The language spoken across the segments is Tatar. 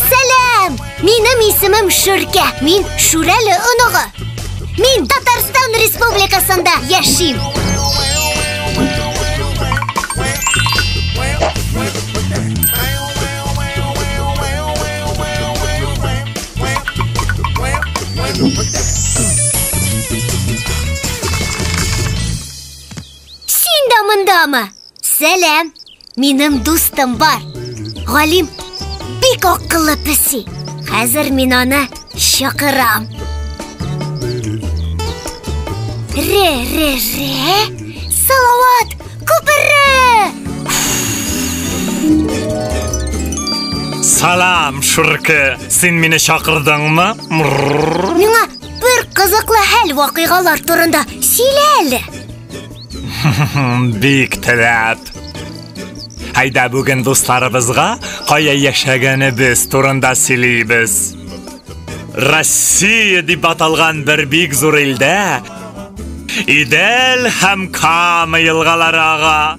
Сәлам! Минем исемем Шүркә. Мин Шүрәле оныгы. Мин Татарстан Республикасында яшим. Син дә мондамы? Сәләм! Минем дустым бар. Галим бик акыллы песи. Хәзер мин аны чакырам. Ре, ре, ре. Салават, күпере! Салам, Шурке. Син мине чакырдыңмы? Миңа бер кызыклы хәл вакыйгалар турында сөйлә әле. Бик теләп. Әйдә бүген дусларыбызга кая яшәгәнебез турында сөйлибез. Россия дип аталган бер бик зур илдә Идел һәм Кама елгалары ага.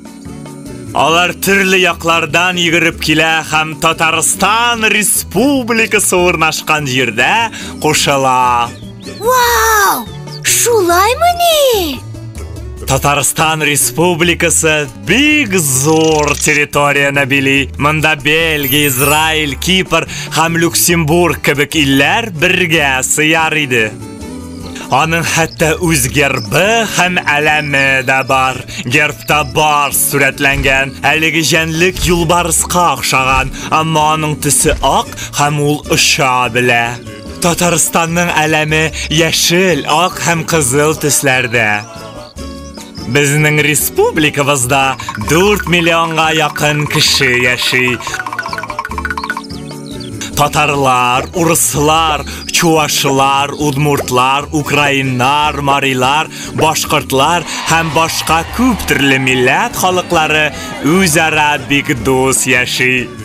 Алар төрле яклардан йөгереп килә һәм Татарстан Республикасы урнашкан җирдә кушыла. Вау! Шулаймыни? Татарстан Республикасы бик зур территорияне били. Монда Бельгия, Израиль, Кипр һәм Люксембург кебек илләр бергә сыяр иде. Аның хәтта үз гербы һәм әләме дә бар. Гербта бар сурәтләнгән. Әлеге җәнлек юлбарыска охшаган, әмма аның төсе ак һәм ул оча белә. Татарстанның әләме яшел, ак һәм кызыл төсләрдә. Безнең республикабызда 4 миллионга якын кеше яши. Татарлар, урыслар, чувашлар, удмуртлар, украиннар, марилар, башкортлар һәм башка күп төрле милләт халыклары үзара бик дус яши.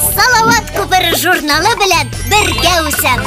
Салават күпер журналы белән бергә үсәм.